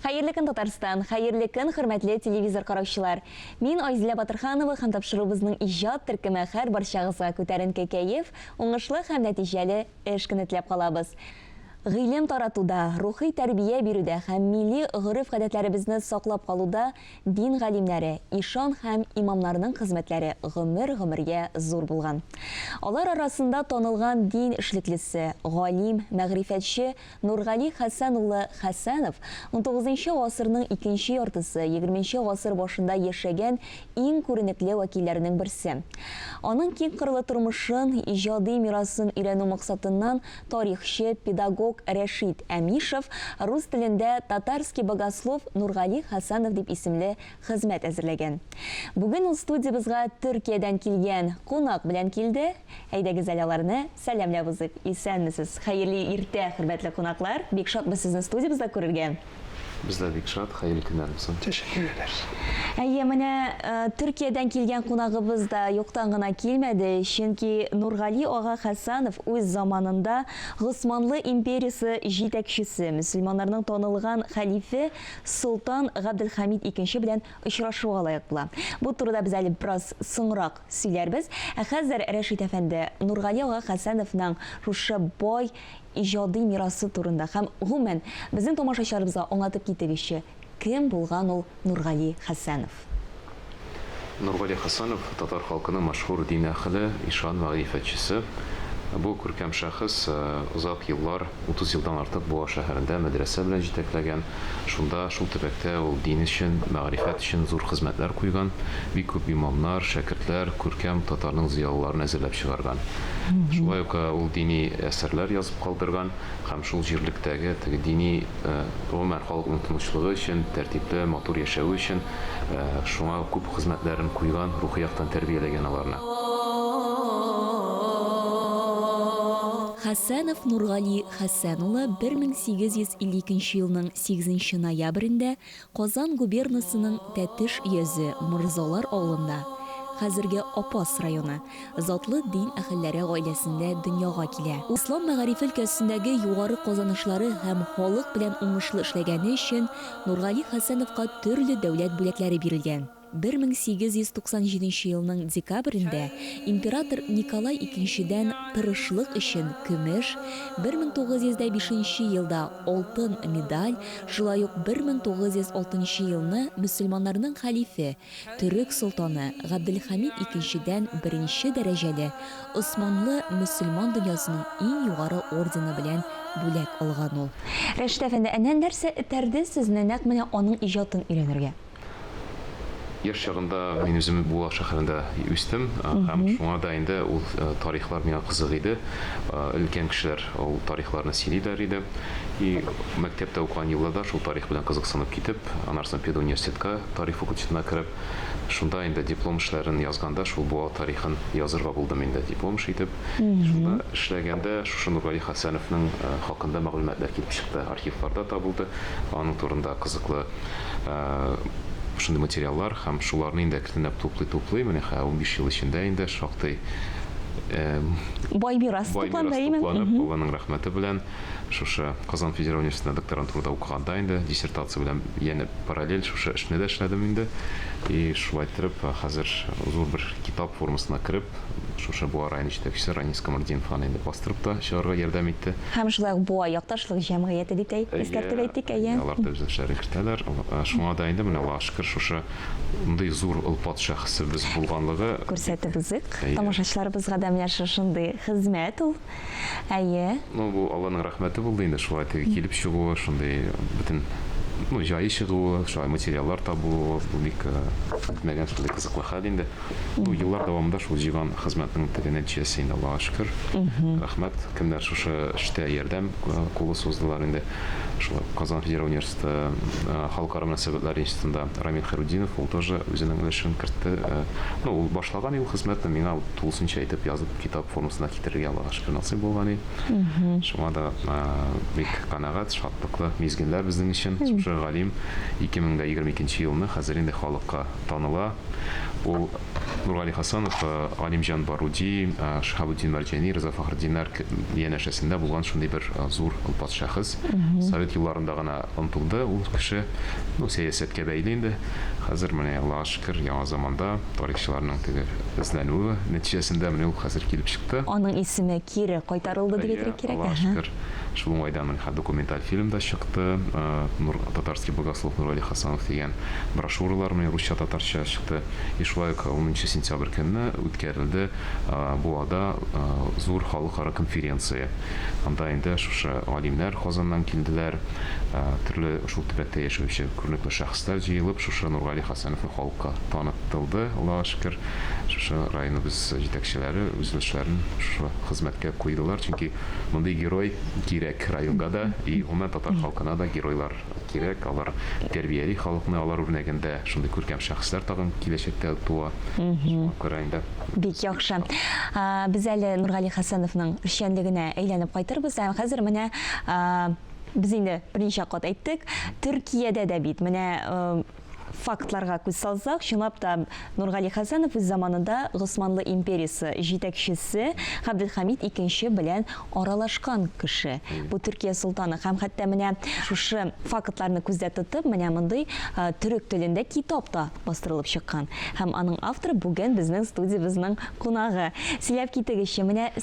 Хәерле көн, Татарстан! Хәерле көн, хөрмәтле телевизор караучылар! Мин Айзилә Батырханова һәм тапшыруыбызның иҗат төркеме хәр барчагызга күтәренке кәеф, уңышлы һәм нәтиҗәле эш көне теләп калабыз. Гыйлем таратуда, рухи тәрбия бирүдә һәм милли гореф-гадәтләребезне саклап калуда дин галимнәре, ишан һәм имамнарның хезмәтләре гомер-гомергә зур булган. Алар арасында танылган дин эшлеклесе, галим, мәгърифәтче, Нургали Хәсән улы Хәсәнов, унтугызынчы гасырның икенче яртысы, егерменче гасыр башында яшәгән иң күренекле вәкилләрнең берсе. Аның киңкырлы тормышын, иҗади мирасын өйрәнү максатыннан тарихчы, педагог Рәшит Әмишев рус телендә Татарский богослов Нургали Хәсәнов дип исемле хезмәт әзерләгән. Бүген ул студиябезга Төркиядән килгән кунак белән килде. Әйдәгез әле аларны сәламләп узыйк. Исәнмесез! Хәерле иртә, хөрмәтле кунаклар! Бик шатбыз сезне студиябездә күрергә! Без дә бик шат, хәерле көннәр булсын! Тәшәккер итәбез! Әйе, менә Төркиядән килгән кунагыбыз да юктан гына килмәде, чөнки Нургали ага Хәсанов үз заманында Госманлы империясе җитәкчесе, мөселманнарның танылган хәлифе Солтан Габделхәмид икенче белән очрашуга лаек була. Бу турыда без әле бераз соңрак Сөйләрбез, ә хәзер Рәшит әфәнде Нургали ага Хәсәновның шушы бай иҗади мирасы турында һәм, гомумән, безнең тамашачыларыбызга аңлатып китегезче, кем булган ул Нургали Хәсәнов? Нургали Хәсәнов, татар халкының мәшһүр дин әһеле, ишан мәгърифәтчесе. Бу күркәм шәхес озак еллар, 30 елдан артык Буа шәһәрендә мәдрәсә белән җитәкләгән. Шунда, шул төбәктә ул дин өчен, мәгърифәт өчен зур хезмәтләр куйган, бик күп имамнар, шәкертләр, күркәм татарның зыялыларын әзерләп чыгарган. Шулай ук ул дини әсәрләр язып калдырган һәм шул җирлектәге теге дини, гомумән, халыкның тынычлыгы өчен, тәртипле, матур яшәве өчен шуңа күп хезмәтләрен куйган, рухи яктан тәрбияләгән аларны. Хәсәнов Нургали Хәсән улы 1852 нче елның 8 нче ноябрендә Казан губернасының Тәтеш йөзе, Морзалар авылында, хәзерге Апас районы, затлы дин әһелләре гаиләсендә дөньяга килә. Ислам мәгарифе өлкәсендәге югары казанышлары һәм халык белән уңышлы эшләгәне өчен Нургали Хәсәновка төрле дәүләт бүләкләре бирелгән. 1897 елның декабрендә император Николай икенчедән тырышлык өчен көмеш, 1905 елда алтын медаль, шулай ук 1906 елны мөселманнарның хәлифе, төрек солтаны Габделхәмид икенчедән беренче дәрәҗәле Османлы мөселман дөньясының иң югары ордены белән бүләк алган ул. Рәшит әфәнде, әнә нәрсә этәрде сезне нәкъ менә аның иҗатын өйрәнергә? Яшь чагында мин үзем Буа шәһәрендә үстем һәм шуңа да инде ул тарихлар миңа кызык иде. Өлкән кешеләр ул тарихларны сөйлиләр иде. И мәктәптә укыган елларда шул тарих белән кызыксынып китеп, аннарсына педуниверситетка тарих факультетына кереп, шунда инде диплом эшләрен язганда шул Буа тарихын язырга булдым инде диплом эше итеп. Шунда эшләгәндә шушы Нургали Хәсәновның хакында мәгълүматлар килеп чыкты, архивларда табылды, аның турында кызыклы шундый материаллар һәм шуларны инде әкренләп туплый-туплый, менә хә 15 ел эчендә инде шактый бай мирас тупланды, әйеме? Алланың рәхмәте белән шушы Казан федераль университетында докторантурада укыганда инде диссертация белән янә параллель шушы эшне дә эшләдем инде. И шулай итеп, хәзер зур бер китап формасына кереп, шушы Буа районы җитәкчесе Ранис Камалетдинов аны инде бастырып та чыгарга ярдәм итте. Һәм шулай ук Буа якташлык җәмгыяте дип тә искәртеп әйтик, әйе. Әйе, алар да үз эшләрен кертәләр. Шуңа да инде менә Аллага шөкер, шушы ндый зур олпат шәхесебез булганлыгы. Күрсәтеп узыйк тамашачыларыбызга да менә шушындый хезмәт ул, әйе. Ну, бу Алланың рәхмәте булды инде, шулай теге килеп чыгуы, шундый бөтен, ну, җае чыгуы, шулай материаллар табуы, бу бик көтмәгән шундый кызыклы хәл инде. Бу еллар дәвамында шул җыйган хезмәтнең теге нәтиҗәсе инде, Аллага шөкер. Рәхмәт, кемнәр шушы эштә ярдәм кулы суздылар инде. Шулай ук Казан федераль университеты Халыкара мөнәсәбәтләр институтында Рамил Хәйрутдинов, ул тоже үзенең өлешен кертте. Ну, ул башлаган инде ул хезмәтне, миңа тулысынча итеп язып, китап формасына китерергә, Аллага шөкер, насыйп булган иде. Шуңа да бик канәгать, шатлыклы мизгелләр безнең өчен. Шушы галим 2022 елны хәзер инде халыкка. таныла. Ул Нургали Хасанов, Галимҗан Баруди, Шиһабутдин Мәрҗани, Риза Фәхретдиннар янәшәсендә булган шундый бер зур олпат шәхес. Совет елларында гына онытылды ул кеше. Ну, сәясәткә бәйле инде. Хәзер менә, Аллага шөкер, яңа заманда тарихчыларның теге эзләнүе нәтиҗәсендә менә ул хәзер килеп чыкты. Аның исеме кире кайтарылды дип әйтергә кирәк. Әйе, Аллага шөкер. Шул уңайдан һәм документаль фильм да чыкты, Нур, татарский богослов Нургали Хасанов дигән брошюралар менә русча-татарча чыкты. И шулай ук унынчы сентябрь көнне үткәрелде Буада зур халыкара конференция. Анда инде шушы галимнәр Казаннан килделәр, төрле шул төбәктә яшәүче күренекле шәхесләр җыелып, шушы Нургали Хасановны халыкка таныттылды. Аллага шөкер, шушы районыбыз җитәкчеләре үзлөшләрен шушы хезмәткә куйдылар, чөнки Мондый герой кирәк районга да и гомумән татар халкына да геройлар кирәк, алар тәрбияли халыкны, алар үрнәгендә шундый күркәм шәхесләр тагын киләчәктә туа, шуңа күрә инде. Бик яхшы. Без әле Нургали Хәсәновның эшчәнлегенә әйләнеп кайтырбыз, ә хәзер менә без инде берничә кат әйттек, Төркиядә дә бит менә Фактларга күз салсак, чынлап та, Нургали Хәсәнов үз заманында Госманлы империясе җитәкчесе Габделхамид икенче белән аралашкан кеше. Бу Төркия солтаны һәм хәтта менә шушы фактларны күздә тотып, менә мондый э, төрек телендә китап та бастырылып чыккан. Һәм аның авторы бүген безнең студиябезнең кунагы. Сөйләп китегезче, менә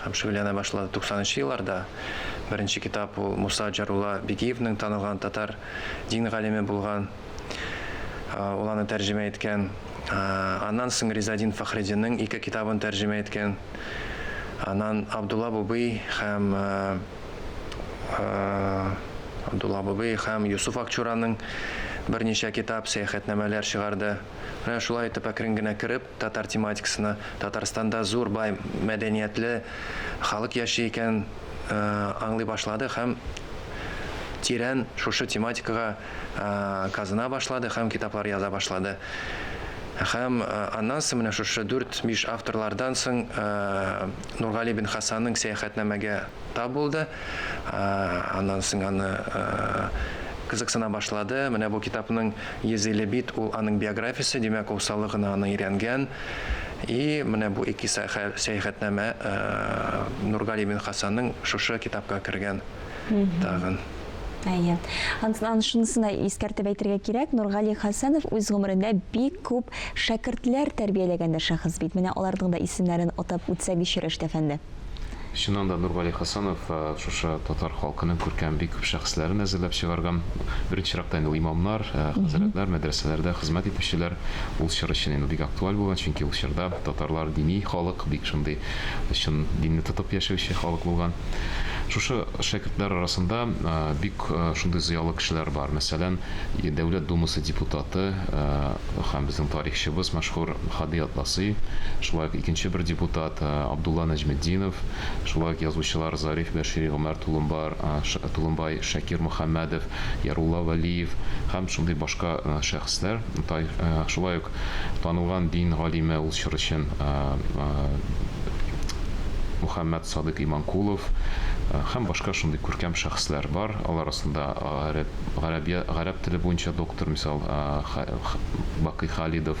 Һәм шөгыльләнә башлады. Туксанынчы елларда беренче китап ул Муса Җарулла Бигиевның танылган татар дин галиме булган, ул аны тәрҗемә иткән. Аннан соң Ризаэддин Фәхреддинның ике китабын тәрҗемә иткән. Аннан Абдулла Бубый һәм Абдулла Бубый һәм Йосыф Акчураның берничә китап, сәяхәтнамәләр чыгарды. Менә шулай итеп әкрен генә кереп, татар тематикасына. Татарстанда зур бай мәдәниятле халык яши икәнен аңлый башлады һәм тирән шушы тематикага казына башлады һәм китаплар яза башлады. Һәм аннан соң менә шушы дүрт-биш авторлардан соң Нургали бин Хасанның Сәяхәтнамәгә тап булды. Аннан соң аны кызыксына башлады. Менә бу китапның Йөзиле бит ул аның биографиясе, димәк, ул саллы гына аны өйрәнгән. И менә бу ике сәяхәтнамә Нургали бин Хасанның шушы китапка кергән тагын. Әйе. Антнан шунысына искәртеп әйтергә кирәк, Нургали Хасанов үз гомерендә бик күп шәкертләр тәрбияләгән дә шәхес бит. Менә аларның да исемнәрен атап үтсәк ич, Рәшит әфәнде. Чыннан да, Нургали Хасанов шушы татар халкының күркәм бик күп шәхесләрен әзерләп чыгарган. Беренче чиратта инде имамнар, хәзрәтләр, мәдрәсәләрдә хезмәт итүчеләр. Ул чор өчен инде бик актуаль булган, чөнки ул чорда татарлар дини халык, бик шундый чын динне тотып яшәүче халык булган. Шушы шәкертләр арасында бик шундый зыялы кешеләр бар. Мәсәлән, Дәүләт Думасы депутаты һәм безнең тарихчыбыз мәшһүр Һади Атласи, шулай ук икенче бер депутат, Абдулла Нәҗметдинов, шулай ук язучылар Зариф Бәшири, Гомәр Тулымбар, Тулымбай, Шакир Мөхәммәдов, Ярулла Вәлиев һәм шундый башка шәхесләр, шулай ук танылган дин галиме, ул чор өчен Мөхәммәт Садыйк Иманкулов һәм башка шундый күркәм шәхесләр бар, алар асында гарәп теле буенча доктор, мисал, Бакый Халидов,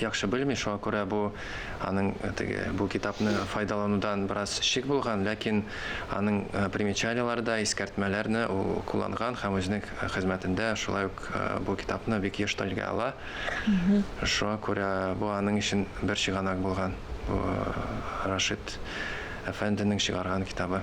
яхшы белми, шуңа күрә бу аның теге бу китапны файдаланудан бераз шик булган, ләкин аның примечанияләре дә, искәртмәләрне ул кулланган һәм үзенең хезмәтендә шулай ук бу китапны бик еш телгә ала. Шуңа күрә бу аның өчен бер чыганак булган. Бу Рашид әфәнденең чыгарган китабы.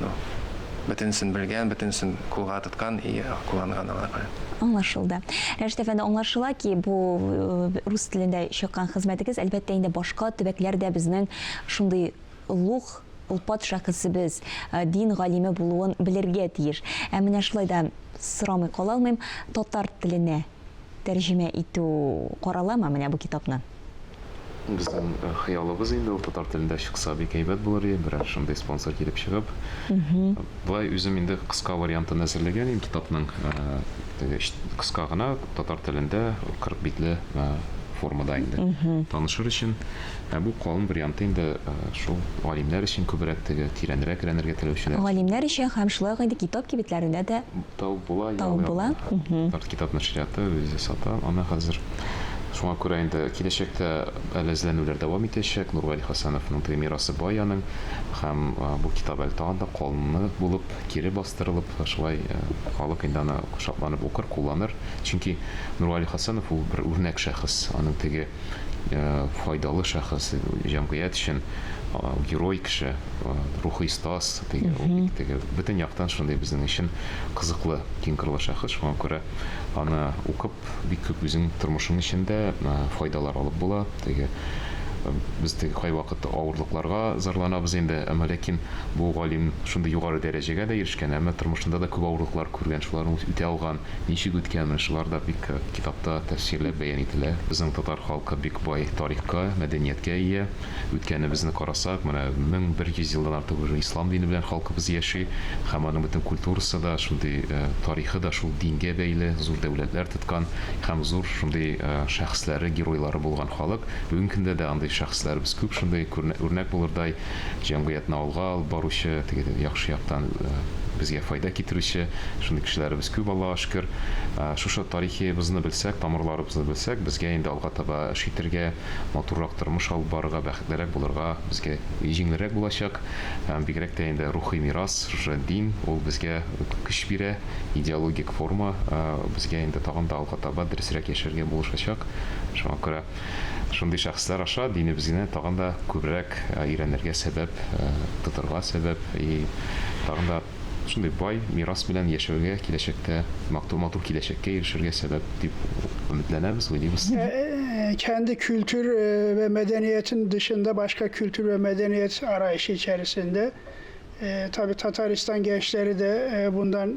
Ну, бөтенесен белгән, бөтенесен кулга тоткан и кулланган аңа күрә. Аңлашылды. Рәшит әфәнде, аңлашыла ки, бу э, рус телендә чыккан хезмәтегез, әлбәттә инде башка төбәкләрдә безнең шундый лух олпат шәхесебез, э, дин галиме булуын белергә тиеш. Ә менә шулай да сорамый кала алмыйм, татар теленә тәрҗемә итү караламы менә бу китапны? Безнең хыялыбыз инде ул татар телендә чыкса бик әйбәт булыр иде, берәр шундый спонсор килеп чыгып. Болай үзем инде кыска вариантын әзерләгән идем китапның, теге кыска гына татар телендә 40 битле формада инде танышыр өчен. Ә бу калын варианты инде шул галимнәр өчен күбрәк теге тирәнрәк рәнергә теләүчеләр өчен. Галимнәр өчен һәм шулай ук инде китап кибетләрендә дә Табып була, ял ягына. Табып була, уһу. Арт китап нәшрияты үзе сата аны хәзер. Шуңа күрә инде киләчәктә әле эзләнүләр дәвам итәчәк. Нургали Хәсәновның теге мирасы бай аның һәм бу китап әле тагын да канлы булып, кире бастырылып, шулай халык инде аны шатланып укыр, кулланыр. Чөнки Нургали Хәсәнов ул бер үрнәк шәхес. Аның теге файдалы шәхес, җәмгыять өчен герой кеше, рухи стас, теге, бик теге, бөтен яктан шундый безнең өчен кызыклы, киң кырлы шәхес. Шуңа күрә аны укып, бик күп үзең тормышың эчендә файдалар алып була. Теге без теге кайвакыт авырлыкларга зарланабыз инде, әмма ләкин бу галим шундый югары дәрәҗәгә дә ирешкән, әмма тормышында да күп авырлыклар күргән, шуларны үтә алган. Ничек үткән, шулар да бик китапта тәфсирләп бәян ителә. Безнең татар халкы бик бай тарихка, мәдәнияткә ия. Үткәнебезне карасак, менә 1100 елдан артык уже ислам дине белән халкыбыз яши һәм аның бөтен культурасы да, шундый тарихы да шул дингә бәйле, зур дәүләтләр тоткан һәм зур шундый шәхесләре, геройлары булган халык. Бүгенге көндә дә андый шәхесләребез күп шундый, үрнәк булырдай. җәмгыятьне алга алып баручы, теге яхшы яктан безгә файда китерүче шундый кешеләребез күп, Аллага шөкер. Шушы тарихыбызны белсәк, тамырларыбызны белсәк, безгә инде алга таба эш итәргә, матуррак тормыш алып барырга, бәхетлерәк булырга безгә җиңелрәк булачак. Бигрәк тә инде рухи мирас, шушы дин, ул безгә көч бирә, идеологик форма безгә инде тагын да алга таба дөресрәк яшәргә булышачак. Шуңа күрә Шундый шәхесләр аша динебезгене тагын да күбрәк өйрәнергә сәбәп, тотырга сәбәп и тагын да шундый бай мирас белән яшәүгә, киләчәктә матур киләчәккә ирешергә сәбәп дип өметләнәбез, уйлыйбыз. Кәнде культур вә мәдәниятен дышында башка культур вә мәдәният арайышы эчәресендә, таби Татарстан гәнчләре дә бундан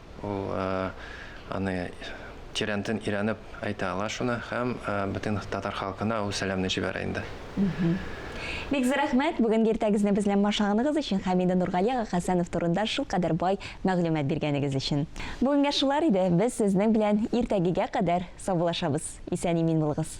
Ул аны тирәнтен өйрәнеп әйтә ала шуны һәм бөтен татар халкына ул сәламне җибәрә инде. Бик зур рәхмәт, бүгенге иртәгезне без белән башлаганыгыз өчен һәм инде Нургали ага Хәсәнов турында шулкадәр бай мәгълүмат биргәнегез өчен. Бүгенгә шулар иде, без сезнең белән иртәгегә кадәр саубуллашабыз. Исән-имин булыгыз!